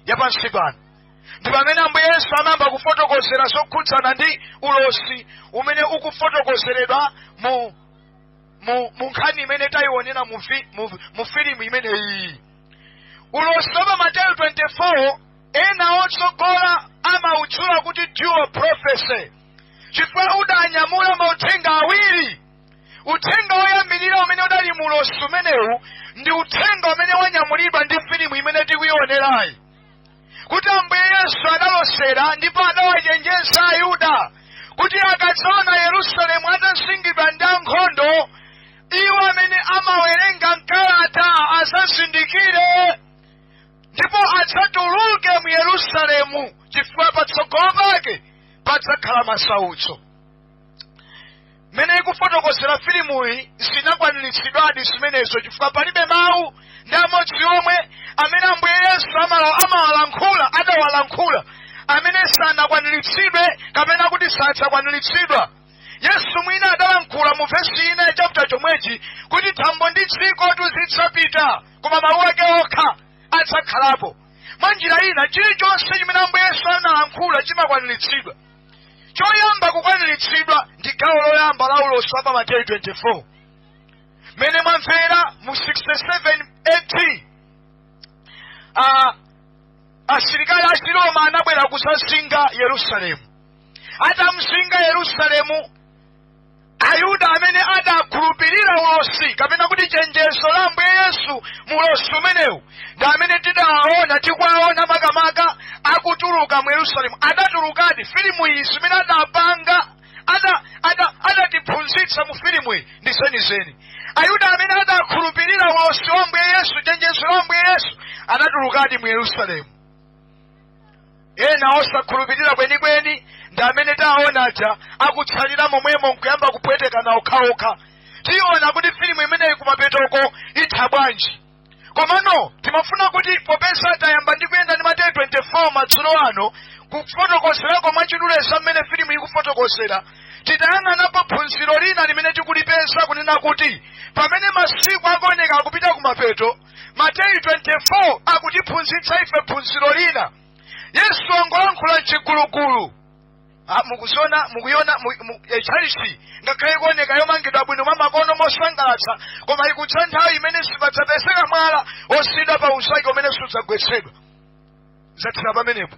ya pansi pano ndi pamene ambuye yesu amayamba kufotokozera zokhudzana ndi ulosi umene ukufotokozeredwa mu mu mu nkhani imene tayiwonera mu, vi- mu, mu filimu imeneyi ulosi wa pa mateyu 24 ena otsogola amautchula kuti dual prophecy chifukwa udanyamula mauthenga awiri uthenga woyambirira umene udali mu ulosi umenewu ndi uthenga umene wanyamulidwa ndi filimu imene tikuionerayi kuti ambuye yesu adalosera ndipo adawachenjeza ayuda kuti akadzaona yerusalemu atazingidwa ndi ankhondo iwo amene amawerenga mkalata adzazindikire ndipo adzatuluke mu yerusalemu chifukwa patsogolo pake padzakhala masautso mmene ikufotokozera filimuyi zinakwaniritsidwadi zimenezo chifukwa palibe mawu ndi amodzi omwe amene ambuye yesu amala- amawalankhula adawalankhula amene sanakwaniritsidwe kapena kuti sadzakwaniritsidwa yesu mwina adalankhula mu vesi ina ya chapter chomwechi kuti thambo ndi dziko zidzapita koma mawu ake okha adzakhalapo mwa njira ina chilichonse chimene ambuye yesu analankhula chimakwaniritsidwa choyamba kukwaniritsidwa ndi gawo loyamba la ulosi wa pa mateyu 24 mmene mwamvera mu 67 AD ah, asilikali a chiroma anabwera kudzazinga yerusalemu atamzinga yerusalemu ayuda amene adakhulupirira ulosi kapena kuti chenjezo la ambuye yesu mu ulosi umenewu ndi amene tidawaona tikuwaona makamaka akutuluka mu yerusalemu adatulukadi filimu iyi zimene adapanga ada- ada- adatiphunzitsa mu filimu iyi ndi zenizeni ayuda amene adakhulupirira ulosi wa ambuye yesu chenjezo la ambuye yesu adatulukadi mu yerusalemu ena osakhulupirira kwenikweni ndi amene taona aja akutsalira momwemo nkuyamba kupwetekana okhaokha tiona kuti filimu imeneyi kumapetoko itha bwanji komano timafuna kuti popeza tayamba ndi kuyenda ndi mateyu 24 madzulo ano kufotokozerako mwachidule za mmene filimu ikufotokozera titayang'anapo phunziro lina limene tikulipeza kunena kuti pamene masiku akuoneka akupita kumapeto mateyu 24 akutiphunzitsa ife phunziro lina yesu angolankhula mchigulugulu Ah, mukuziona mukuiona mu- mu- eh, tchalitchi ngakhale ikuoneka yomangidwa bwino mwamakono mosangalatsa koma ikudza nthawi imene sipadzapezeka mwala osiyidwa pa unzake umene sudzagwetsedwa zathera pamenepo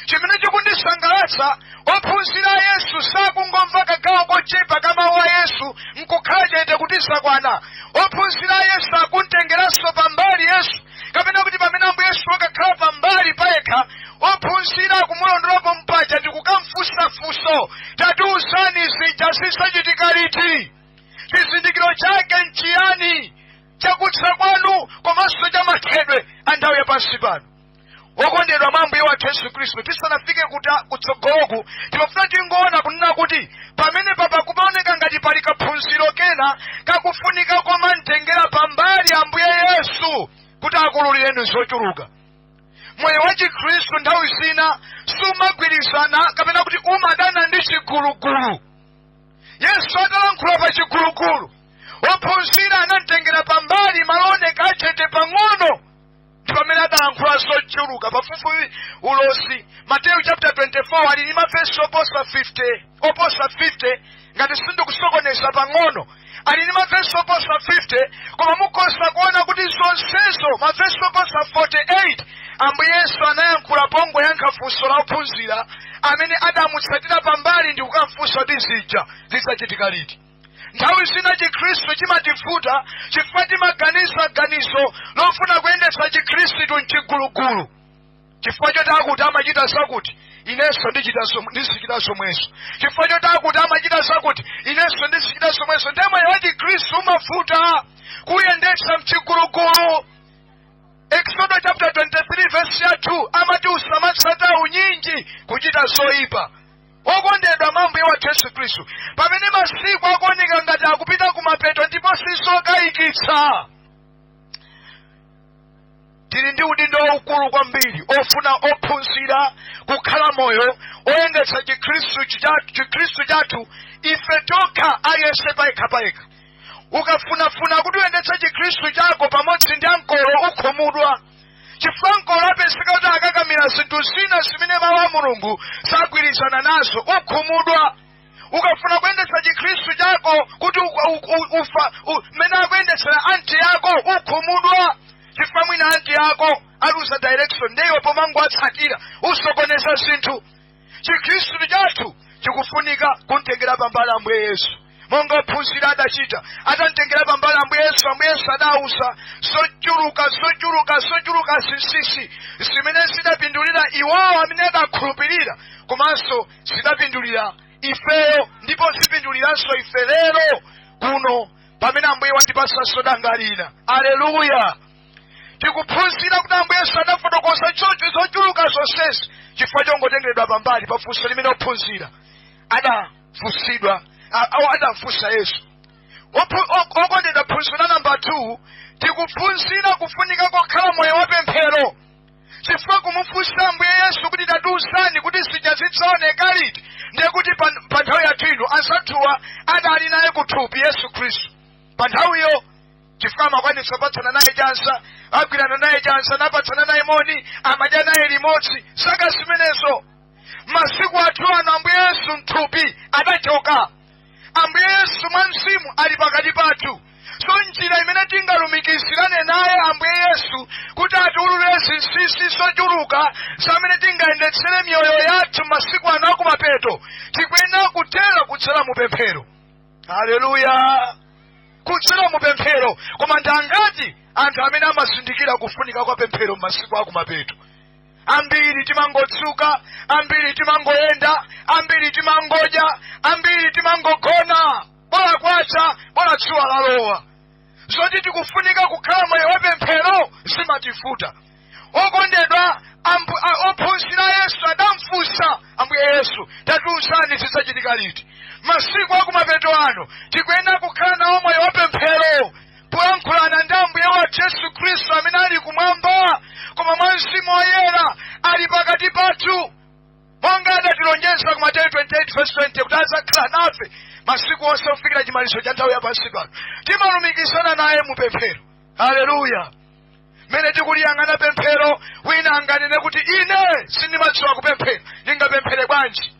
chimene chikundisangalatsa ophunzira a yesu sakungomva kagawo kochepa ka mawu a yesu nkukhala chete kuti zakwana ophunzira a yesu akuntengeranso pambali yesu kapena kuti pamene ambuye yesu wakakhala pambali payekha ophunzira akumulondolapo mpaja ndikukamfunsa funso tatiuzani zija zidzachitika liti chizindikiro chake nchiyani chakudza kwanu komanso chamathedwe a nthawi yapansi pano wokondedwa mwa ambuye wathu yesu khristu tisanafike kuta- kutsogoloku timafuna tingoona kunena kuti pamenepapa kumaoneka ngati pali kaphunziro kena kakufunika komamtengera pambali ambuye yesu kuti akululireni zochuluka moyo wa chikhristu nthawi zina sumagwirizana kapena kuti umadana ndi chigulugulu yesu atalankhula pa chigulugulu ophunzira anamtengera pambali malo ooneka achete pang'ono ndi pamene adalankhula zochuluka pafupifupi ulosi mateyu chapter 24 ali ndi mavesi oposa 50 ngati sindikusokoneza pang'ono ali ndi mavesi oposa 50 koma mukhoza kuona kuti zonsezo mavesi oposa 48 ambuye yesu anayankhula pongoyankha funso la ophunzira amene adamutsatira pambali ndi kukamfunsa kuti zija zidzachitika liti nthawi zina chikhristu chimativuta chifukwa timaganiza ganizo lofuna kuyendetsa chikhristu mchigulugulu chifukwa choti akuti amachita zakuti inenso ndichita zom- ndizichita zomwezo chifukwa choti akuti amachita zakuti inenso ndizichita zomwezo ndiye moyo wa chikhristu umavuta kuyendetsa mchigulugulu eksodo chapter 23 verse ya 2 amati usamatsata unyinji kuchita zoyipa Okondedwa mwa Ambuye wathu Yesu Khristu, pamene masiku akuoneka ngati akupita kumapeto ndipo sizokayikitsa, tili ndi udindo waukulu kwambiri ofuna kuphunzira kukhala moyo oyendetsa chikhristu chitatu- chikhristu chathu ife tokha aliyense payekha payekha ukafunafuna kuti uyendetse chikhristu chako pamodzi ndi ankolo ukhumudwa chifukwa ankolo apezeka kuti akakamira zinthu zina zimene mawu a mulungu sagwirizana nazo ukhumudwa ukafuna kuyendetsa chikhristu chako kuti u- u- u- ufa u- mmene akuyendetsera anti yako ukhumudwa chifukwa mwina anti yako aluza direction nde iwe pomangowatsatira usokoneza zinthu chikhristu chathu chikufunika kumtengera pambali ambuye yesu monga ophunzira adachita atamtengera pambali ambuye yesu ambuye yesu adawauza zochuluka zochuluka zochuluka zinsisi zimene zidapindulira iwowo amene adakhulupirira komanso zidapindulira ifeyo ndipo zipinduliranso ife lero kuno pamene ambuye watipatsanso danga lina aleluya tikuphunzira kuti ambuye yesu adafotokoza choncho zochuluka zonsezi chifukwa chongotengeredwa pambali pa funso limene ophunzira adafunsidwa a- awo adafunsa yesu Ophu- ok- okondedwa phunziro la namba 2 tikuphunzira kufunika kokhala moyo wa pemphero chifukwa kumufunsa ambuye yesu kuti tatiuzani kuti zija zidzaoneka liti ndiye kuti pa pa nthawi yathu ino anzathuwa adali naye kuthupi yesu khristu pa nthawiyo chifukwa amakwanitsa kupatsana naye chanza agwirana naye chanza napatsana naye moni amadya naye limodzi zaka zimenezo masiku athu ano ambuye yesu mthupi adachoka ambuye yesu mwa mzimu ali pakati pathu so njira imene tingalumikizirane naye ambuye yesu kuti atiululire zinsinsi zochuluka zamene tingayendetsere miyoyo yathu masiku ano akumapeto tikuyenera kutero kudzera mu pemphero haleluya kudzera mu pemphero koma ndi angati anthu amene amazindikira kufunika kwa pemphero m'masiku akumapeto ambiri timangodzuka ambiri timangoyenda ambiri timangodya ambiri timangogona bola kwacha bola dzuwa lalowa zoti tikufunika kukhala moyo wapemphero zimativuta okondedwa ambu- a- ophunzira yesu adamfunsa ambuye yesu tatiuzani zidzachitika liti masiku akumapeto ano tikuyenera kukhala nawo moyo wapemphero poyankhulana ndi ambuye wathu yesu khristu amene ali kumwamba koma mwa mzimu woyera ali pakati pathu monga adatilonjeza ku mateyu 28 vesi 20 kuti adzakhala nafe masiku onse kufikira chimalizo cha nthawi yapansi pano timalumikizana naye mu pemphero haleluya mmene tikuliyang'ana pemphero wina anganene kuti ine sindimadziwa kupemphera ndingapemphere bwanji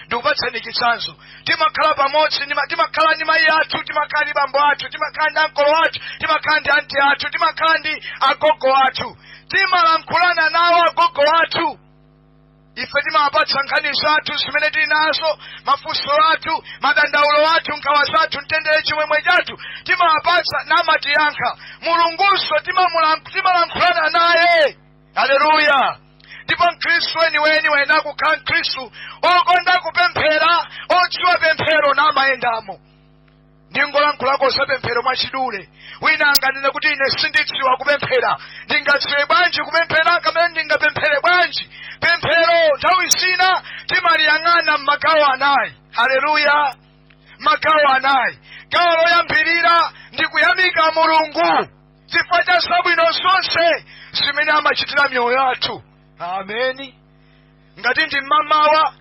ndikupatsani chitsanzo timakhala pamodzi ndima- timakhala ndi mayi athu timakhala ndi bambo athu timakhala ndi ankolo athu timakhala ndi anti athu timakhala ndi agogo athu timalankhulana nawo agogo athu ife timawapatsa nkhani zathu zimene tili nazo mafunso athu madandaulo athu nkhawa zathu mtendere chimwemwe chathu timawapatsa namatiyankha mulungunso timamulan- timalankhulana naye haleluya ndipo mkhristu weniweni wayenera kukhala mkhristu okonda kupemphera odziwa pemphero namayendamo ndingolankhulako za pemphero mwachidule wina anganene kuti ine sindidziwa kupemphera ndingadziwe bwanji kupemphera kapena ndingapemphere bwanji pemphero nthawi zina timaliyang'ana m'magawo anayi haleluya magawo anayi gawo loyambirira ndi kuyamika mulungu chifukwa cha zabwino zonse zimene amachitira miyoyo yathu ameni ngati ndi mmamawa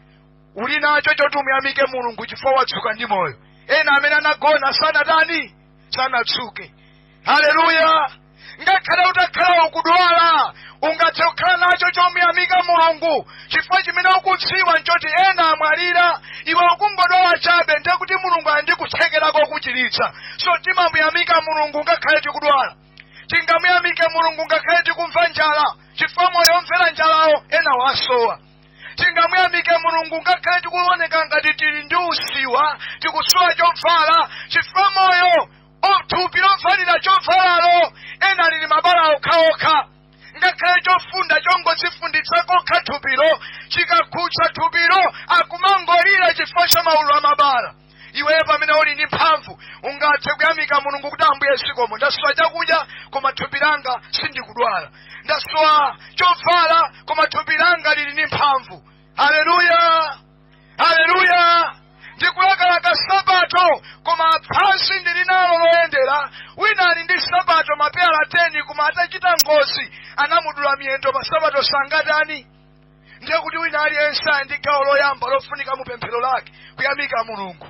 uli nacho choti umuyamike mulungu chifukwa wadzuka ndi moyo ena amene anagona sanatani sanadzuke haleluya ngakhale utakhala ukudwala ungathe kukhala nacho chomuyamika mulungu chifukwa chimene ukudziwa nchoti ena amwalira iwe ukungodwala chabe ndiye kuti mulungu ali ndi kuthekera kokuchiritsa so timamuyamika mulungu ngakhale tikudwala tingamuyamike mulungu ngakhale tikumva njala chifukwa moyo omvera njalawo ena wasowa tingamuyamike mulungu ngakhale tikuoneka ngati tili ndi usiwa tikusowa chovala chifukwa moyo thupi lovalira chovalalo ena lili mabala okhaokha ngakhale chofunda chongodzifunditsa kokha thupilo chikakhudza thupilo akumangolira chifukwa cha maululu a mabala iweyo pamene uli ndi mphamvu ungathe kuyamika mulungu kuti ambuye zikomo ndasowa chakudya koma thupi langa sindikudwala ndasowa chovala koma thupi langa lili ndi mphamvu haleluya haleluya ndikulakalaka nsapato koma phazi ndili nalo loyendera wina ali ndi nsapato mapeyala 10 koma atachita ngozi anamudula miyendo pa nsapato sangatani ndiye kuti wina aliyense ali ndi gawo loyamba lofunika mu pemphero lake kuyamika mulungu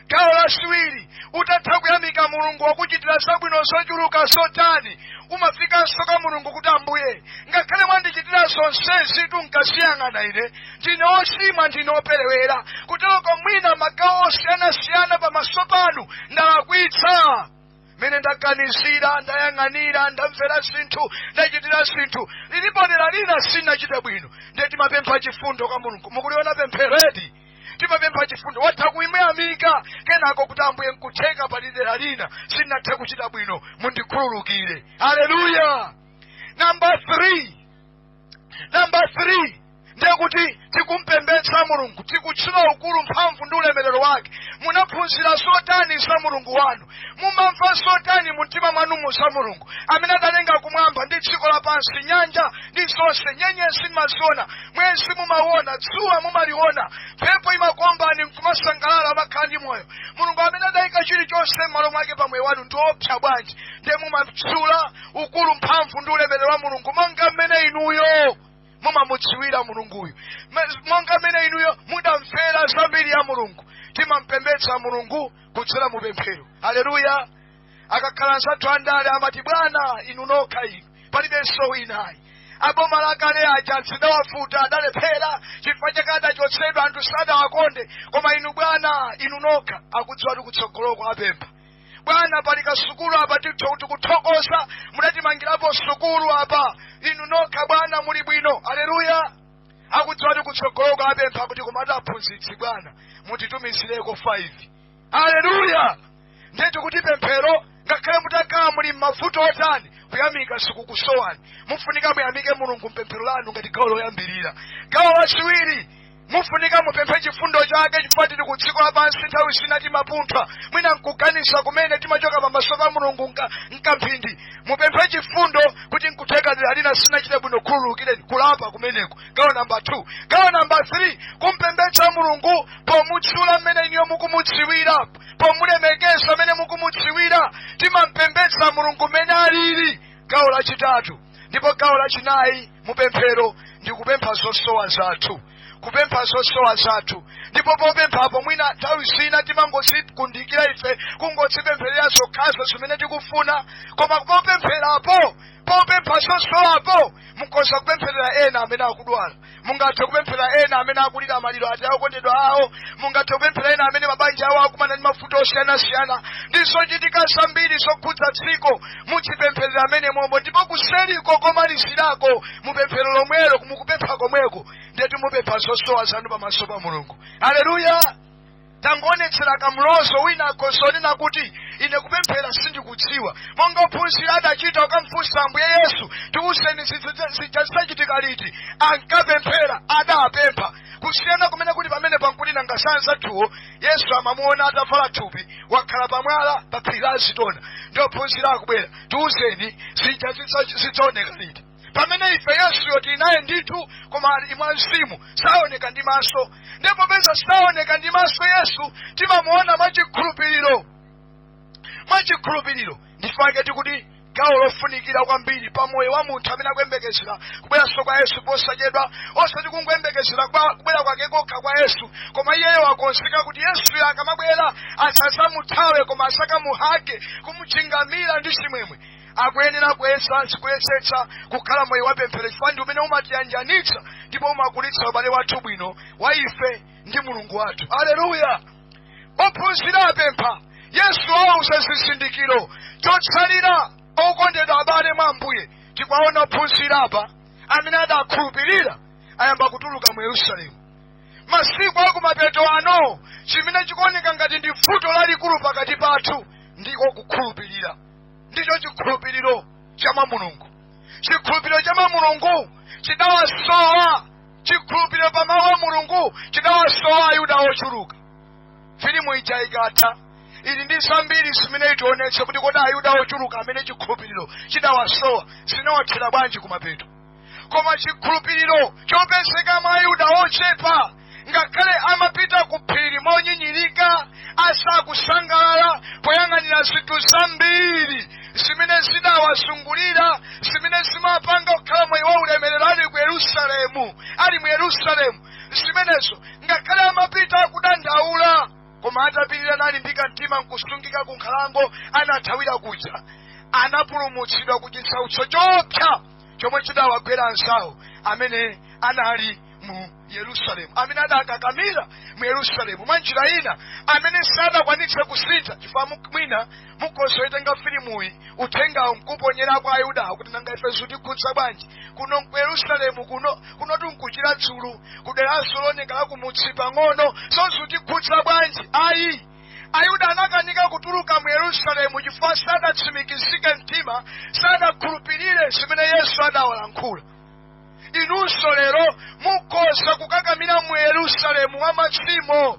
gawo lachiwiri utatha kuyamika mulungu wakuchitira zabwino zochuluka zotani umafikanso kwa mulungu kuti ambuye ngakhale mwandichitira zonsezitu nkadziyang'ana ine ndine ochimwa ndine operewera kuteroko mwina magawo osiyanasiyana pamaso panu ndalakwitsa mmene ndaganizira ndayang'anira ndamvera zinthu ndachitira zinthu lilipo dera lina sinachita bwino ndiye timapempha chifundo kwa mulungu mukuliona pempheredi timapempha chifundo watha kumuyamika kenako kuti ambuye nkutheka pali dera lina sinathe kuchita bwino mundikhululukire haleluya namba 3 namba 3 ndiye kuti tikumpembedza mulungu tikutchula ukulu mphamvu ndi ulemerero wake munaphunzira zotani za mulungu wanu mumamva zotani mumtima mwanumu za mulungu amene adalenga kumwamba ndi dziko lapansi nyanja ndi zonse nyenyezi mumaziona mwezi mumauona dzuwa mumaliona mphepo imakombani nkumasangalala mmakhala ndi moyo mulungu amene adayika chilichonse m'malo mwake pa moyo wanu ndi opsa bwanji ndiye mumamtchula ukulu mphamvu ndi ulemerero wa mulungu monga mmene inuyo mumamudziwira mulunguyu monga mmene inuyo mudamvera zambiri ya mulungu timampembedza mulungu kudzera mu pemphero aleluya akakhala anzathu andale amati bwana inu nokha inu palibenso winayi aboma lakale aja zidawavuta adalephera chifukwa chake adachotsedwa anthu sadawakonde koma inu bwana inu nokha akudziwa kuti kutsogoloko apempha bwana pali kasukulu apa tikuthokoza mudatimangirapo sukulu apa inu nokha bwana muli bwino aleluya akudziwa ti kutsogoloka apempha kuti komatu aphunzitsi bwana mutitumizireko 5 aleluya ndiye tikuti pemphero ngakhale mutakhala muli m'mavuto otani kuyamika sikukusowani mufunika muyamike mulungu mpemphero lanu ngati gawo loyambirira gawo lachiwiri Mufunika mupemphe chifundo chake chifukwa tili ku dziko lapansi nthawi zina timapunthwa mwina nkuganiza kumene timachoka pamaso pa mulungu nkamphindi mupemphe chifundo kuti nkutheka dera lina sinachite bwino khululukireni kulapa kumeneko gawo namba 2 gawo namba 3 kumpembedza mulungu pomutchula mmene inuyo mukumudziwira pomulemekeza mmene mukumudziwira timampembedza mulungu mmene alili gawo lachitatu ndipo gawo lachinayi mupemphero ndi kupempha zosowa zathu kupempha zosowa zathu ndipo popemphapo mwina nthawi zina timangodzikundikira ife kungodzipempherera zokhazo zimene tikufuna koma popempherapo popempha zosowapo mukhoza kupempherera ena amene akudwala mungathe kupemphera ena amene akulira maliro a okondedwa awo mungathe kupemphera ena amene mabanja awo akumana ndi mavuto osiyanasiyana ndi zochitika zambiri zokhudza dziko mudzipempherera amene momwe ndipo kuseriko komalizirako mupemphero lomwelo mukupempha komweko ndeti mupempha zosowa zanu pamaso pa mulungu aleluya tangoonetsera kamlozo wina akhoza kunena kuti ine kupemphera sindikudziwa monga ophunzira adachita kukamfunsa ambuye yesu tiwuzeni zija zidzachitika liti ankapemphera adapempha kusiyana kumene kuli pamene pankuti nanga anzathuwo yesu amamuona atavala thupi wakhala pamwala pa phiri la azitona ndi ophunzira akubwera tiwuzeni zija zidzaoneka liti pamene ife yesuyo tili naye ndithu koma ali mwa mzimu saoneka ndi maso ndipo popeza saoneka ndi maso yesu timamuona mwachikhulupiriro mwachikhulupiriro nchifukwake tikuti gawo lofunikira kwambiri pa moyo wa munthu amene akuyembekezera kubweranso kwa yesu posachedwa osati kungoyembekezera kubwera kwake kokha kwa yesu koma iyeyo wakonzeka kuti yesuyo akamabwera asadzamuthawe koma adzakamuhage kumuchingamira ndi chimwemwe akuyenera kuyesetsa kuyesetsa kukhala moyo wapemphero chifukwa ndi umene umatiyanjanitsa ndipo umakulitsa ubale wathu bwino wa ife ndi mulungu wathu aleluya ophunzira apempha yesu awauza zizindikiro chotsalira okondedwa abale mwa ambuye tikuwaona ophunzira apa amene adakhulupirira ayamba kutuluka mu yerusalemu masiku akumapeto ano chimene chikuoneka ngati ndi vuto lalikulu pakati pathu ndiko kukhulupirira ndicho chikhulupiriro cha mwa mulungu chikhulupiriro cha mwa mulungu chidawasowa chikhulupiriro pa mawu a mulungu chidawasowa ayuda ochuluka filimu ija ikatha ili ndi zambiri zimene itionetse kuti kodi ayuda ochuluka amene chikhulupiriro chidawasowa zinawathera bwanji kumapeto koma chikhulupiriro chopezeka mwa ayuda ochepa ngakhale amapita ku phiri monyinyirika asakusangalala poyang'anira zinthu zambiri zimene zidawazungulira zimene zimapanga kukhala moyo wa ulemerero ali ku yerusalemu ali mu yerusalemu zimenezo ngakhale amapita kudandaula koma atapirira nalimbika mtima nkusungika ku nkhalango anathawira kuja anapulumutsidwa ku chisautso choopsa chomwe chidawagwera anzawo amene anali mu yerusalemu amene adakakamira mu yerusalemu mwa njira ina amene sadakwanitse kusintha chifukwa mu- mwina mukhoza kuitenga filimuyi uthengawo nkuponyera kwa ayudawo kuti nanga ife zitikhudza bwanji kuno ku yerusalemu kuno kunotu nkuchira dzulu kudera soloneka lakumutsi pang'ono so zitikhudza bwanji ayi Ayuda anakanika kutuluka mu Yerusalemu chifukwa sadatsimikizike mtima, sadakhulupirire zimene Yesu adawalankhula. Inunso lero mukhoza kukakamira mu Yerusalemu wa machimo,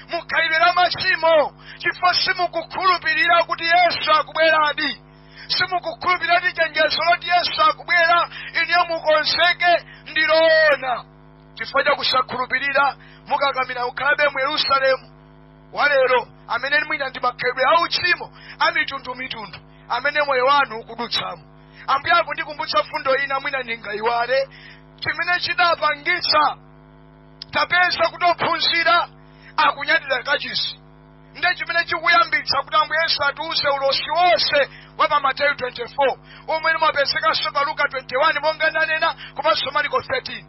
mukhalidwe la machimo, chifukwa simukukhulupirira kuti Yesu akubweradi, simukukhulupirira kuti chenjezo loti Yesu akubwera, inuyo mukonzeke ndiloona. Chifukwa cha kusakhulupirira, mukakamira kukhalabe mu Yerusalemu wa lero amene mwina ndi makhalidwe a uchimo a mitundumitundu amene moyo wanu ukudutsamo ambuye akundikumbutsa mfundo ina mwina ndingayiwale chimene chidapangitsa tapeza kuti ophunzira akunyadira kachisi nde chimene chikuyambitsa kuti ambuye yesu atiuze ulosi wonse wa pa mateyu 24 omwe umapezekanso pa luka 21 monga ndanena komanso mariko 13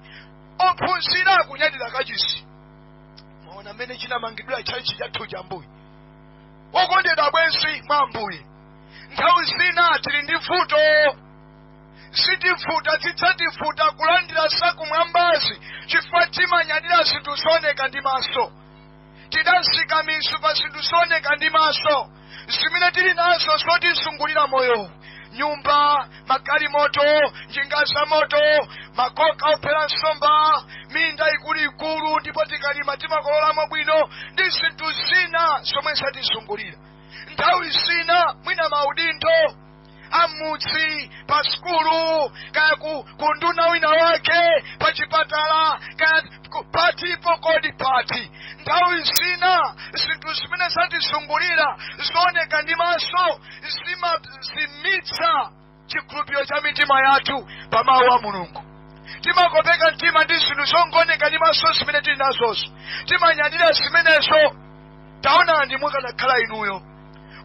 ophunzira akunyadira kachisi mwaona mmene chinamangidwira tchalitchi chathu cha ambuye okondedwa abwenzi mwa ambuye nthawi zina tili ndi vuto zitivuta zidzativuta kulandira zakumwambazi chifukwa timanyadira zinthu zooneka ndi maso tidazika mizu pa zinthu zooneka ndi maso zimene tili nazo zotizungulira moyo nyumba magalimoto njinga za moto makoka ophera nsomba minda ikuluikulu ndipo tikalima timakololamo bwino ndi zinthu zina zomwe zatizungulira nthawi zina mwina maudindo amudzi pa sukulu kaya ku, ku nduna wina wake pa chipatala kaya ku- patipo kodi pati nthawi zina zinthu zimene zatizungulira zooneka ndi maso zimazimitsa chikhulupiriro cha mitima yathu pa mawu a mulungu timakopeka mtima ndi zinthu zongooneka ndi maso zimene tili nazozo timanyadira zimenezo taonani mukanakhala inuyo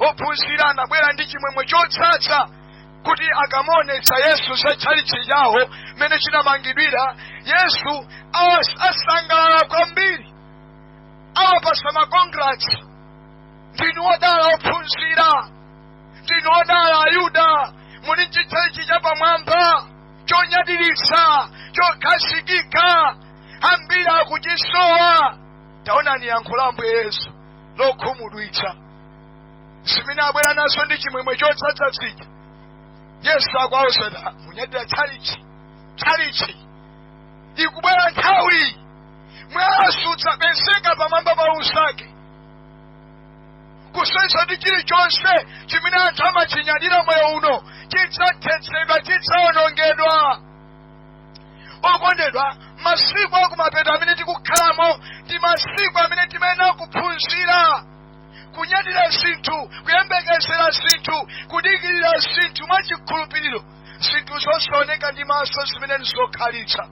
ophunzira anabwera ndi chimwemwe chodzadza kuti akamuonetsa yesu za tchalitchi chawo mmene chinamangidwira yesu asangalala kwambiri awapasa makongrats ndinu odala ophunzira ndinu odala ayuda muli ndi tchalitchi chapamwamba chonyadiritsa chokhazikika ambiri akuchisowa taonani yankho la ambuye yesu lokhumudwitsa zimene abwera nazo ndi chimwemwe chodzadza zija yesu akuwauza munyadira tchalichi tchalichi ikubwera nthawi mwala sudzapezeka pamwamba pa unzake kusonyeza kuti chilichonse chimene anthu amachinyadira moyo uno chidzathetsedwa chidzaonongedwa okondedwa masiku akumapeto amene tikukhalamo ndi masiku amene timayenera kuphunzira kunyadira zinthu kuyembekezera zinthu kudikirira zinthu mwa chikhulupiriro zinthu zosaoneka ndi maso zimene ndizokhalitsa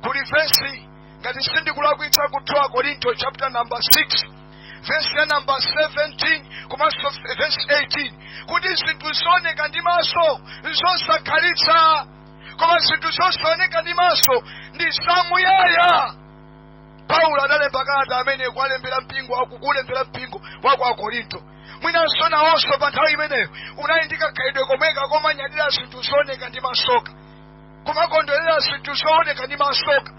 kuli vesi ngati sindikulakwitsa ku 2 korinto chapter number 6 vesi ya namba 17 komanso vesi 18 kuti zinthu zooneka ndi maso nzosakhalitsa koma zinthu zosaoneka ndi maso ndi zamuyaya paulo adalemba kalata amene kuwalembera mpingo akukulembera mpingo wa kwa akorinto mwinanso nawonso pa nthawi imeneyo unali ndi kakhalidwe komweka komanyadila zinthu zooneka ndi masoka kumakondwerera zinthu zooneka ndi masoka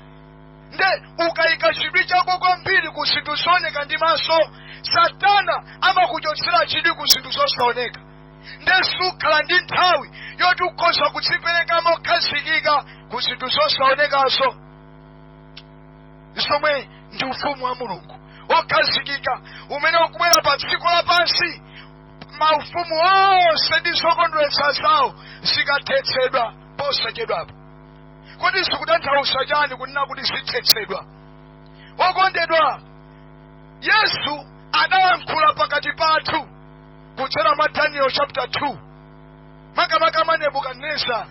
nde ukayika chidwi chako kwambiri ku zinthu zooneka ndi maso satana amakuchotsera chidwi ku zinthu zosaoneka nde sukhala ndi nthawi yoti ukhoza kudzipereka mokhazikika ku zinthu zosaonekazo zomwe ndi ufumu wa mulungu wokhazikika umene ukubwera pa dziko lapansi maufumu onse ndi zokondweretsa zawo zikathetsedwa posachedwapo kodi zikutanthauza chani kunena kuti zithetsedwa okondedwa yesu adayankhula pakati pathu kudzera mwa daniel chapter 2 makamaka nebukadinezara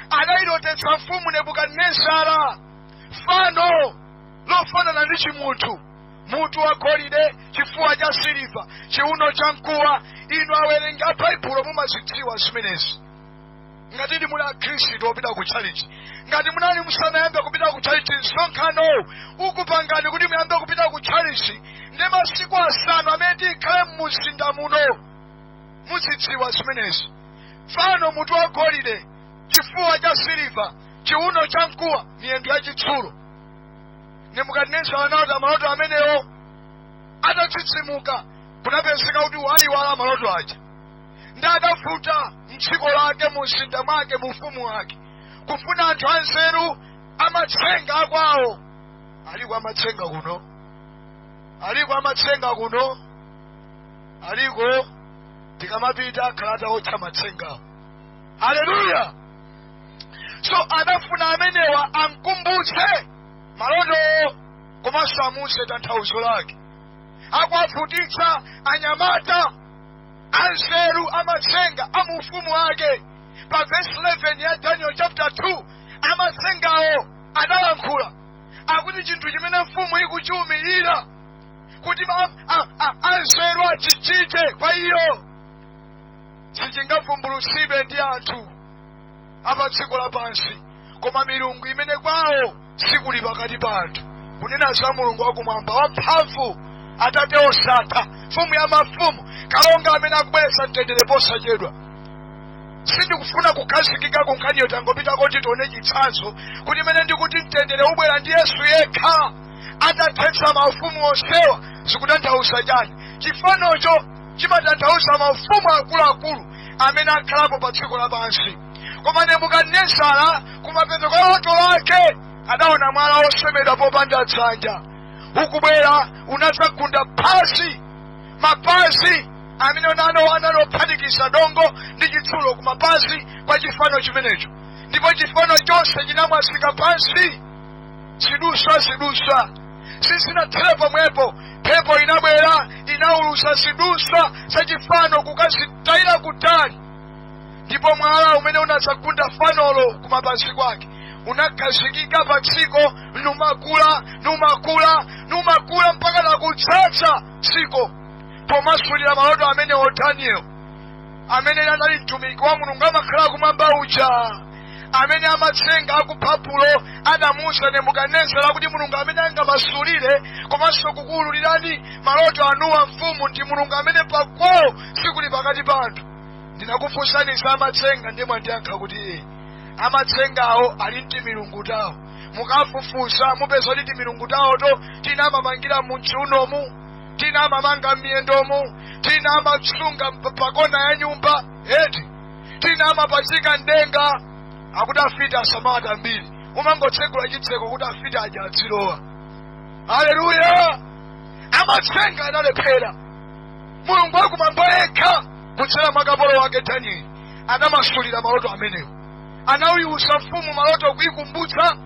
adayilotetsa mfumu nebukadinezara fano lofanana ndi chimunthu mutu wa golide chifuwa cha siliva chiuno cha mkuwa inu owerenga baibulo mumazidziwa zimenezi ngati muli akhristu opita ku chalichi ngati munali musanayambe kupita ku chalichi msonkhanowu ukupangani kuti muyambe kupita ku chalichi ndi masiku asanu amene tikhale mumzinda muno muzidziwa zimenezi fano mutu wa golide chifuwa cha siliva chiuno cha mkuwa miyendo ya chitsulo nebukadinezara anaona maloto amenewo atatsitsimuka kunapezeka kuti waiwala maloto aja ndipo adavuta mdziko lake mu mzinda mwake mu ufumu wake kufuna anthu anzeru amatsenga akwawo aliko amatsenga kuno aliko amatsenga kuno aliko tikamapita akhala ataotcha matsengawo haleluya so adafuna amenewa amkumbutse malotowo komanso amuuze tanthauzo lake akuwavutitsa anyamata anzeru amatsenga a mu ufumu wake pa vesi 11 ya daniel chapter 2 amatsengawo adalankhula akuti chinthu chimene mfumu ikuchiumirira kuti ma- a- a- anzeru achichite kwa iyo sichingavumbulutsidwe ndi anthu a pa dziko lapansi koma milungu imene kwawo sikuli pakati pa anthu kunena za mulungu wakumwamba wamphamvu atate osatha mfumu ya mafumu kalonga amene akubweretsa mtendere posachedwa sindikufuna kukhazikika ku nkhaniyo tangopita kuti tione chitsanzo kuti mmene ndikuti mtendere ubwera ndi yesu yekha atathetsa maufumu onsewa zikutanthauza chani chifanocho chimatanthauza maufumu akuluakulu amene akhalapo pa dziko lapansi koma nebukadinezara kumapeto kwa loto lake adaona mwala wosemedwa popanda dzanja ukubwera unadzagunda pansi mapazi amene anali ophatikiza dongo ndi chitsulo ku mapazi kwa chifano chimenecho ndipo chifano chonse chinamwazika pansi ziduswa ziduswa sizinathera pomwepo mphepo inabwera inaulusa ziduswa zachifano kukazitayira kutali ndipo mwala umene unadzagunda fanolo kumapazi kwake unakhazikika pa dziko numakula numakula numakula mpaka nakudzadza dziko pomasulira maloto amenewo daniel amene anali mtumiki wa mulungu amakhala kumwamba uja amene amatsenga aku babulo adamuuza nebukadinezara kuti mulungu amene angamasulire komanso kukuwululirani maloto anuwa amfumu ndi mulungu amene pakwawo sikuli pakati pa anthu ndinakufunsani za amatsenga ndiye mwandiyankha kuti iii amatsengawo ali ndi timilungu tawo mukafufuza mupeza kuti timilungu tawoto tina amamangira mu mchiunomu tina amamanga m'miyendomu tina amasunga mp- pakona ya nyumba eti tina amapachika mdenga akuti afiti asamata mbiri umangotsegula chitseko kuti afiti aja azilowa haleluya amatsenga analephera mulungu wakumwamba yekha kudzera mwa kapolo wake danieli anamasulira maloto amenewo anayiwuza mfumu maloto kuikumbutsa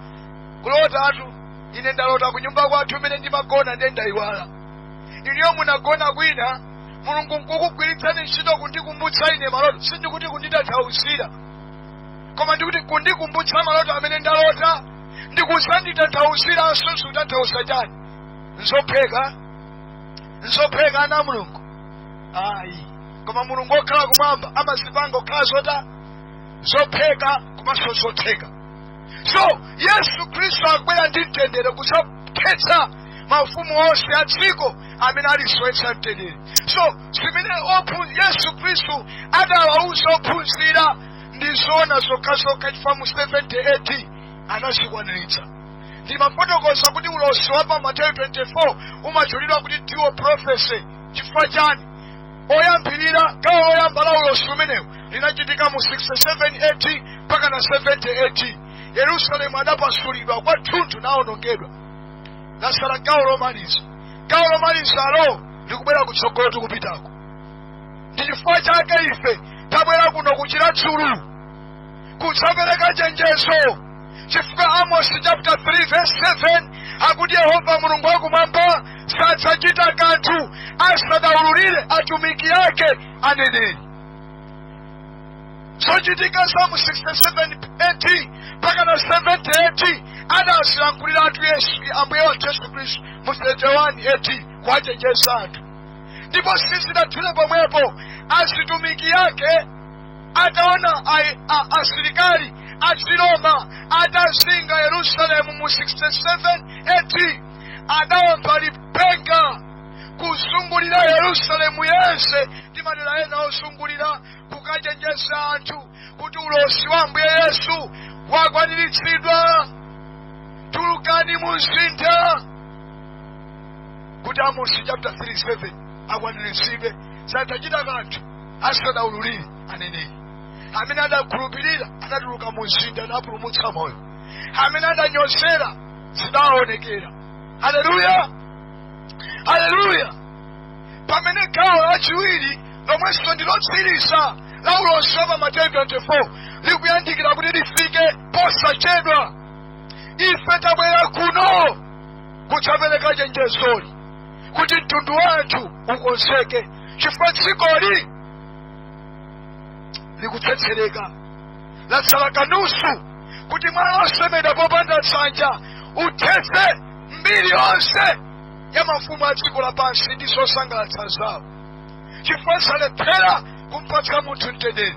kulotatu ine ndalota ku nyumba kwathu imene ndimagona ndiye ndayiwala inuyo munagona kwina mulungu nkukugwiritsani ntchito kundikumbutsa ine maloto sindikuti kunditanthauzira koma ndikuti kundikumbutsa maloto amene ndalota ndikusanditanthauziranso zutanthauza chani nzopheka nzopheka ana a mulungu ayi koma mulungu okhala kumwamba amazipanga kukhala zota zopheka komanso zotheka so yesu khristu akubwera ndi mtendere kudzathetsa maufumu onse a dziko amene alisowetsa mtendere so zimene yesu khristu adawauza ophunzira ndi zoona zokhazokha chifukwa mu 70 AD adazikwaniritsa ndimafotokoza kuti ulosi wa pa mateyu 24 umatchulidwa kuti dual prophecy chifukwa chani oyambirira gawo loyamba la ulosi umenewu linachitika mu 67 AD mpaka na 70 AD yerusalemu adapasulidwa kwathunthu nawonongedwa latsala gawo lomaliza gawo lomalizalo likubwera kutsogolo tikupitako ndi chifukwa chake ife tabwera kuno ku chiradzulu kudzapereka chenjezo chifukwa amosi chapter 3 verse 7 akuti yehova mulungu wakumwamba sadzachita kanthu asadaululire atumiki ake aneneri zochitika za mu 67 AD mpaka na 70 AD adazilankhulira atu yesu ambuye wathu yesu khristu mu 31 AD kuwachenjeza anthu ndipo sizidathere pomwepo atumiki ake ataona ai- a- asilikali achiroma atazinga yerusalemu mu 67 AD adawomba lipenga kuzungulira yerusalemu yense ndi madera ena ozungulira kukachenjeza anthu kuti ulosi wa ambuye yesu wakwaniritsidwa tulukani mu mzinda kuti amosi chapter 37 akwaniritsidwe sadzachita kanthu asanaululire aneneri amene anakhulupirira anatuluka mu mzinda napulumutsa moyo amene adanyozera zidaonekera haleluya haleluya pamene gawo lachiwiri lomwenso ndi lotsiriza la ulosi wa pa mateyu 24 likuyandikira kuti lifike posachedwa ife tabwera kuno kudzapereka chenjezoli kuti mtundu wa anthu ukonzeke chifukwa dzikoli likutsetsereka latsala kanusu kuti mwala wosemedwa popanda dzanja uthetse mbiri yonse ya mafumu a dziko lapansi ndi zosangalatsa zawo chifukwa zalephera kumpatsa munthu mtendere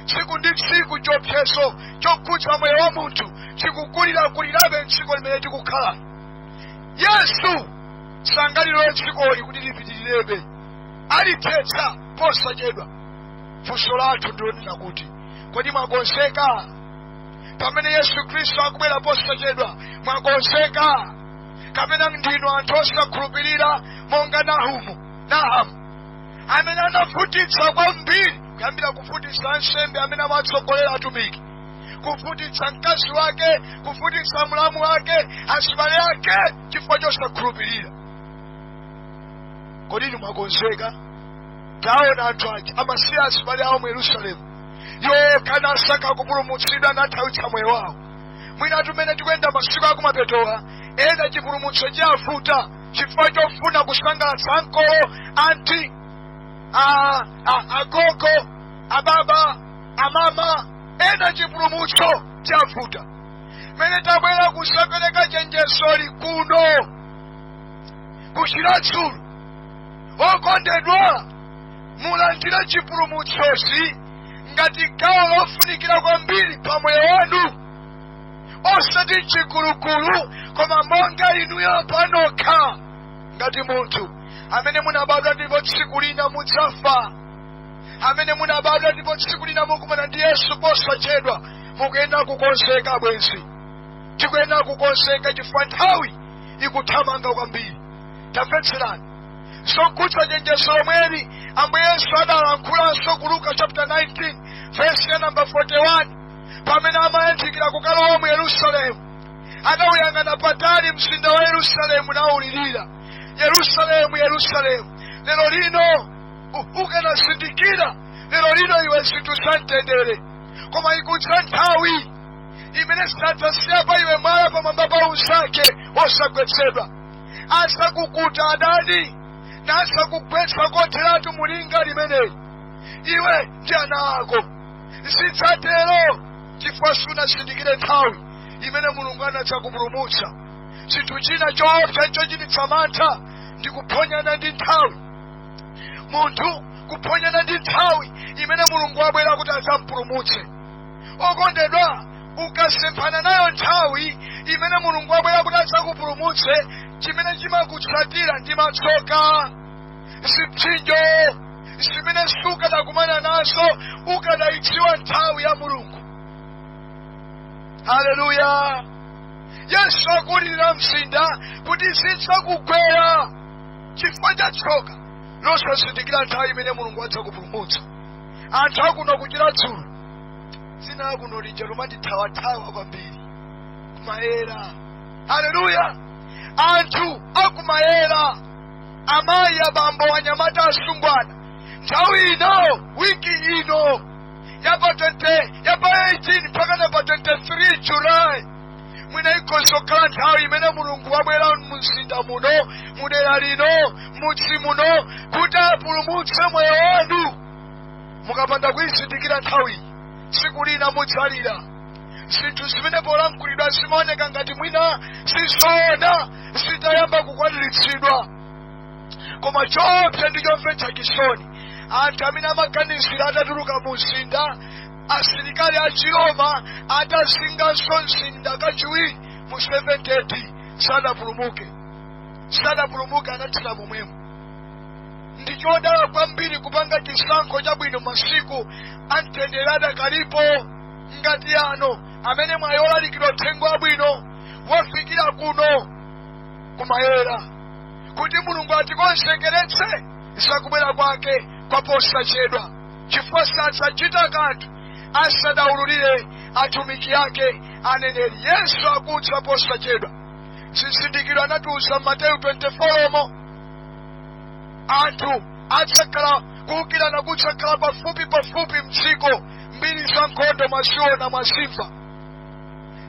tsiku ndi tsiku chiopsezo chokhudza moyo wa munthu chikukulirakulirabe mdziko limene tikukhala yesu sangalilole dzikoli kuti lipitirirebe alithetsa posachedwa funso lathu ndilonena kuti kodi mwakonzeka pamene yesu khristu akubwera posachedwa mwakonzeka kapena ndinu anthu osakhulupirira monga nahumu nahamu amene anavutitsa kwambiri kuyambira kuvutitsa ansembe amene amatsogolera atumiki kuvutitsa mkazi wake kuvutitsa mlamu wake azibale ake chifukwa chosakhulupirira kodi inu mwakonzeka taona anthu aja amasiya azibale awo mu yerusalemu yokha nasaka kupulumutsidwa nathawitsa moyo wawo mwina mmene tikuyenda masiku akumapetowa ena chipulumutso chavuta chifukwa chofuna kusangalatsa ankolo anti a- a- agogo ababa amama ena chipulumutso chavuta mene tabwera kudzapereka chenjezoli kuno ku chiradzulu okondedwa mulandire chipulumutsochi ngati gawo lofunikira kwambiri pa moyo wanu osati mchikulukulu koma monga inuyo panokha ngati munthu amene munabadwa ndipo tsiku lina mudzafa amene munabadwa ndipo tsiku lina mukumana ndi yesu posachedwa mukuyenera kukonzeka abwenzi tikuyenera kukonzeka chifukwa nthawi ikuthamanga kwambiri tamvetserani zokhudza chenjezo lomweli ambuye yesu adalankhulanso ku luka chapter 19 verse ya namba 41 pamene amayandikira kukalowa mu yerusalemu adawuyang'ana patali mzinda wa yerusalemu nawulirira yerusalemu yerusalemu lero lino u- ukanazindikira lero lino iwe zinthu za mtendere koma ikudza nthawi imene sadzasiya pa iwe mwala pamwamba pa unzake osagwetsedwa adzakukuta adani nadzakugwetsa kotheratu mulinga limeneli iwe ndi ana ako zidzatero chifukwa sunazindikire nthawi imene mulungu anadzakupulumutsa chinthu china choopsa chochititsa mantha ndi kuphonyana ndi nthawi munthu kuphonyana ndi nthawi imene mulungu wabwera kuti adzampulumutse okondedwa ukasemphana nayo nthawi imene mulungu wabwera kuti adzakupulumutse chimene chimakutsatira ndi matsoka zipsinjo zimene sukadakumana nazo ukadayidziwa nthawi ya mulungu haleluya yesu akulirira mzinda kuti zidzakugwera chifukwa cha tsoka losazindikira nthawi imene mulungu wadzakupulumutsa anthu akuno kuchira dzulo dzina lakuno lija lomandithawathawa kwambiri kumayera haleluya anthu akumayera amayi abambo anyamata asungwana nthawi ino wiki ino yapa 20 yapa 18 mpaka na pa 23 julayi mwina ikhoza kukhala nthawi imene mulungu wabwera mumzinda muno mudera lino mudzi muno kuti apulumutse moyo wanu mukapanda kuyizindikira nthawiyi tsiku lina mudzalira zinthu zimene polankhulidwa zimaoneka ngati mwina sizoona zitayamba kukwaniritsidwa koma choopsa ndi chomvetsa chisoni anthu amene amakanizira atatuluka mu mzinda asilikali a chiroma atazinganso mzinda kachiwiri mu 70 AD sanapulumuke sanapulumuke anathera momwemo ndi chodala kwambiri kupanga chisankho chabwino masiku amtendere adakalipo ngati ano amene mwayi olalikidwa uthenga wabwino wafikira kuno kumayera kuti mulungu atikonzekeretse zakubwera kwake kwaposachedwa chifukwa sadzachita kanthu asadaululire atumiki ake aneneri yesu akudza posachedwa zizindikiro anatiuza mateyu 24 umo anthu adzakhala kuukirana kudzakhala pafupi pafupi mdziko mbiri za nkhondo mwaziona mwazimva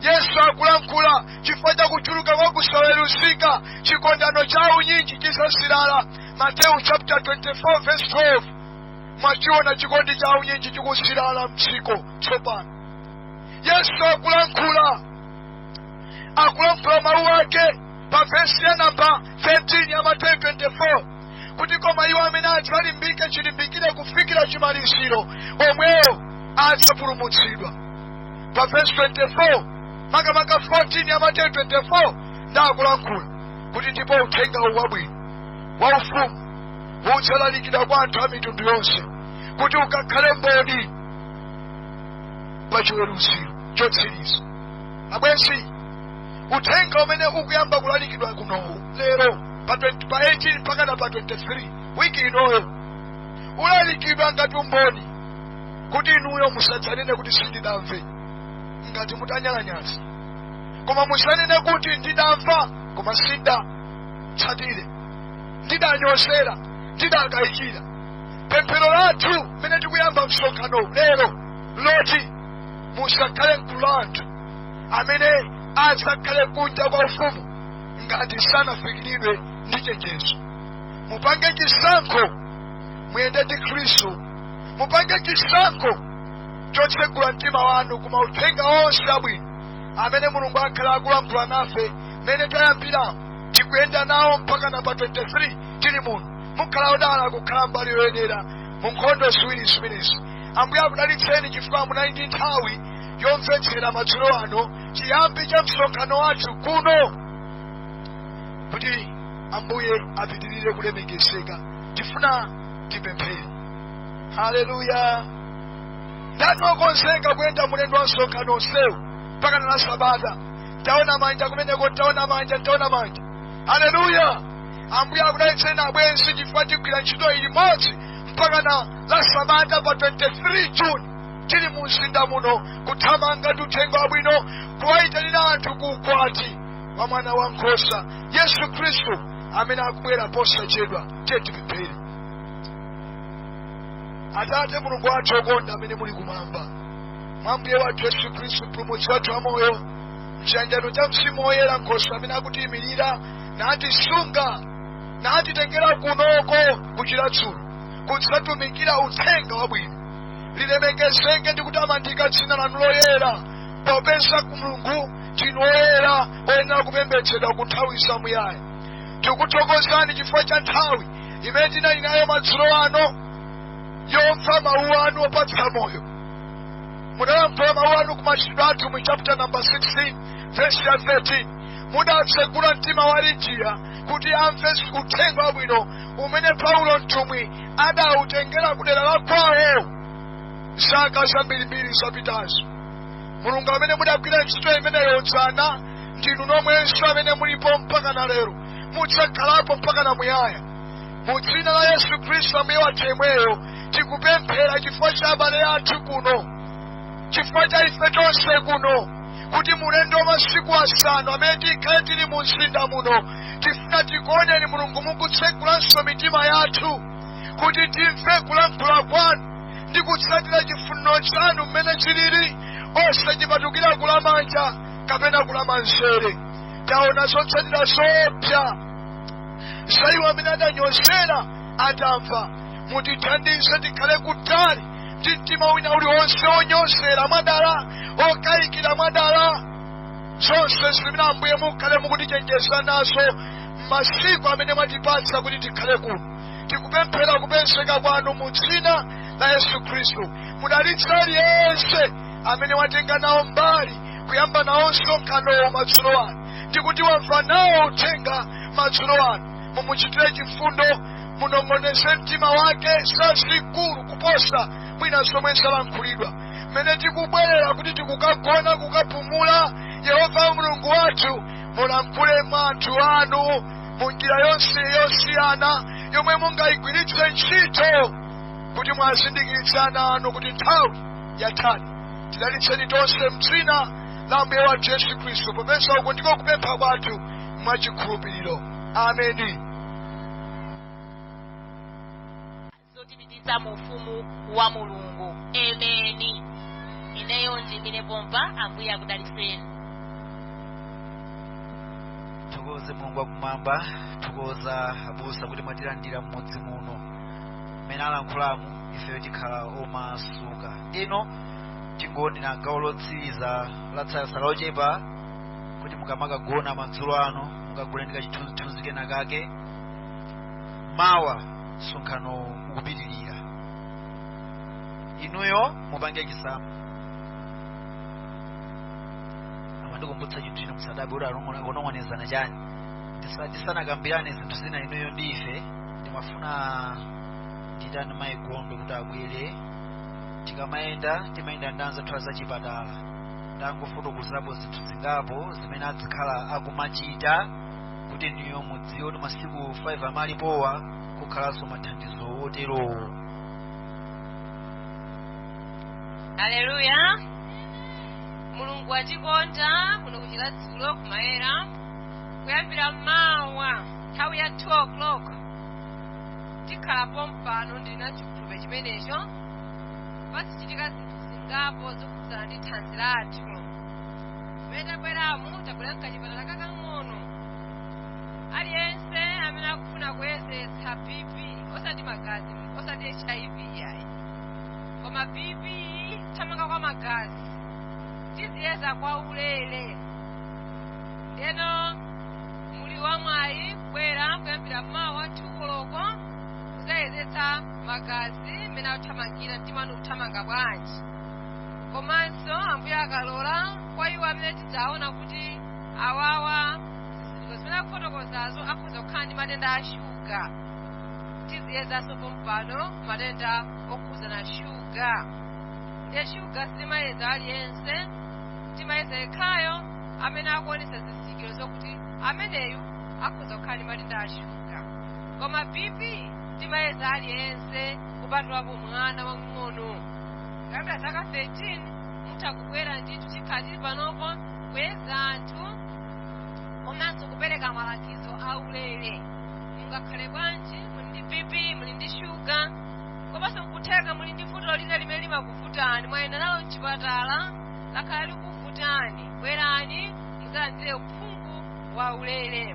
yesu akulankhula chifukwa cha kuchuluka kwa kusaweruzika chikondano cha unyinji chidzazirala mateyu chapter 24 verse 12 mwachiona chikondi cha unyinji chikuzilala mdziko tsopano yesu akulankhula akulankhula mawu ake pa vesi ya namba 13 ya mateyu 24 kuti koma iwo amene adzalimbike chilimbikire kufikira chimaliziro omwewo adzapulumutsidwa pa vesi 24 makamaka 14 ya mateyu 24 nd'akulankhula kuti ndipo uthenga uwu wabwino wa ufumu udzalalikidwa kwa anthu a mitundu yonse kuti ukakhale mboni pa chiweruziro chotsiriza abwenzi uthenga umene ukuyamba kulalikidwa kunowu lero pa pa 18 mpaka na pa 23 wiki inoyo ulalikidwa ngati umboni kuti inuyo musadzanene kuti sindidamve ngati mutanyalanyaza koma musanene kuti ndidamva koma sindatsatire ndidanyozera ndidakayikira pemphero lathu mmene tikuyamba msonkhano lero loti musakhale mgulu la anthu amene adzakhale kunja kwa ufumu ngati sanafikiridwe ndi chenjezo mupange chisankho muyende ndi khristu mupange chisankho chotsegula mtima wanu ku mauthenga onse abwino amene mulungu akhala akulankhula nafe mmene tayambiramo tikuyenda nawo mpaka na pa 23 tili muno mukhala odala kukhala mbali yoyenera mu nkhondo ziwiri zimenezi ambuye akudalitseni chifukwa munali ndi nthawi yomvetsera madzulo ano chiyambi cha msonkhano wathu kuno kuti ambuye apitirire kulemekezeka tifuna tipemphere haleluya ndani okonzeka kuyenda mulendo wa msonkhano onsewu mpaka na la sabata taona manja kumeneko taona manja taona manja haleluya ambuye akudalitseni abwenzi chifukwa tigwira ntchito iyi limodzi mpaka na la sabata pa 23 juni tili mu mzinda muno kuthamanga ndi uthenga wabwino kuwayitanira anthu ku ukwati wa mwana wa nkhosa yesu khristu amene akubwera posachedwa tiye tipemphere atate mulungu wathu okonda amene muli kumwamba mwa mbuye wathu yesu khristu mpulumutsi wathu wa moyo mchiyanjano cha mzimu woyera nkhoswe amene akutiyimirira natisunga natitengera kunoko ku chiradzulu kudzatumikira uthenga wabwino lilemekezeke ndi kutamandika dzina lanu loyera popeza kuti mulungu ndinu woyera oyenera kupembedzedwa ku nthawi zamuyaya tikuthokozani chifukwa cha nthawi imene tinali nayo madzulo ano yomva mawu anu opatsa moyo mudalankhula mawu anu ku machitidwe atumwi chapter number 16 verse ya 13 mudatsegula mtima wa lidiya kuti amve uthenga wabwino umene paulo mtumwi adawutengera ku dera la kwawo zaka zambirimbiri zapitazo mulungu amene mudagwira ntchito imeneyo dzana ndinu nomwenso amene mulipo mpaka na lero mudzakhalapo mpaka na muyaya mu dzina la yesu khristu ambuye wathu yemweyo tikupemphera chifukwa cha abale athu kuno chifukwa cha ife tonse kuno kuti mu ulendo wa masiku asanu amene tikhale tili mu mzinda muno tifuna tikuoneni mulungu mukutsegulanso mitima yathu kuti timve kulankhula kwanu ndi kutsatira chifuniro chanu mmene chilili osapatukira kulamanja kapena kulamanzere taona zotsatira zoopsa za iwo amene adanyozera atamva mutithandize tikhale kutali ndi mtima wina uliwonse wonyozera mwadala wokayikira mwadala zonse zimene ambuye mukhale mukutichenjeza nazo mmasiku amene mwatipatsa kuti tikhale kuno tikupemphera kupezeka kwanu mu dzina la yesu khristu mudalitse aliyense amene watenga nawo mbali kuyamba nawo msonkhanowo madzulo ano ndikuti wamva nawo uthenga madzulo ano mumuchitire chifundo munong'oneze mtima wake zazikulu kuposa mwina zomwe zalankhulidwa mmene tikubwerera kuti tikagona kukapumula yehova mulungu wathu mulankhule mwa anthu anu mu njira yonse yosiyana yomwe mungayigwiritse ntchito kuti muwazindikiritse ana anu kuti nthawi yathadi tidalitseni tonse mdzina la ambuye wathu yesu khristu popeza uku ndiko kupempha kwathu mwa chikhulupiriro ameni zotipititsa mu ufumu wa mulungu ameni ineyo ndimire pompa ambuye akudalitseni tithokoze mulungu wakumwamba tithokoza abusa kuti mwatilandira mmudzi muno mmene alankhuliramu ifeyo tikhala omasuka ino tingoonera gawo lotsiriza latsala lochepa kuti mukamakagona madzulo ano mukagone ndi kachithunzithunzi kena kake mawa msonkhano ukupitirira inuyo mupange chisankho amandikumbutsa chinthu chino musadabe kuti akunong'onezana chani tisanakambirane zinthu zina inuyo ndi ife ndimafuna nditani mayi gondwe kuti abwere tikamayenda timayenda ndi anzathu a zachipatala ndangofotokozapo zinthu zingapo zimene azikhala akumachita kuti inuyo mudziwe kuti masiku 5 amene alipowa kukhalanso mathandizo oterowo aleluya mulungu watikonda kuno kuchira dzulo kumayera kuyambira mawa nthawi ya 2 o'clock tikhala pompano ndili na chikhulupiriro chimenecho pazichitika zinthu zingapo zokhudzana ndi thanzi lathu mmene tabweramu tabwera nkachipatala kakang'ono aliyense amene akufuna kuyezetsa bp osati magazi osati hiv yayi koma bp kuthamanga kwa magazi tiziyeza kwa ulere ndeno muli wamwayi kubwera kuyambira mawa 2 koloko kuzayezetsa magazi mmene akuthamangira mtima wanu ukuthamanga bwanji komanso ambuye akalola kwa iwo amene tidzaona kuti awawa zizindikiro zimene akufotokozazo akhoza kukhala ndi matenda a shuga tiziyezanso pompano matenda okhudzana shuga ndiye shuga sitimayeza aliyense timayeza yekhayo amene akuonesa zizindikiro zokuti ameneyu akhoza kukhala ndi matenda a shuga koma bp timayeza aliyense kupatulapo mwana wamng'ono kuyambira zaka 13 mutha kubwera ndithu tikhala tili panopo kuyeza anthu komanso kupereka malangizo aulere mungakhale bwanji muli ndi bp muli ndi shuga komanso nkutheka muli ndi vuto lina limene limakuvutani mwayenda nalo mchipatala lakhala likuvutani bwerani muzalandire uphungu waulere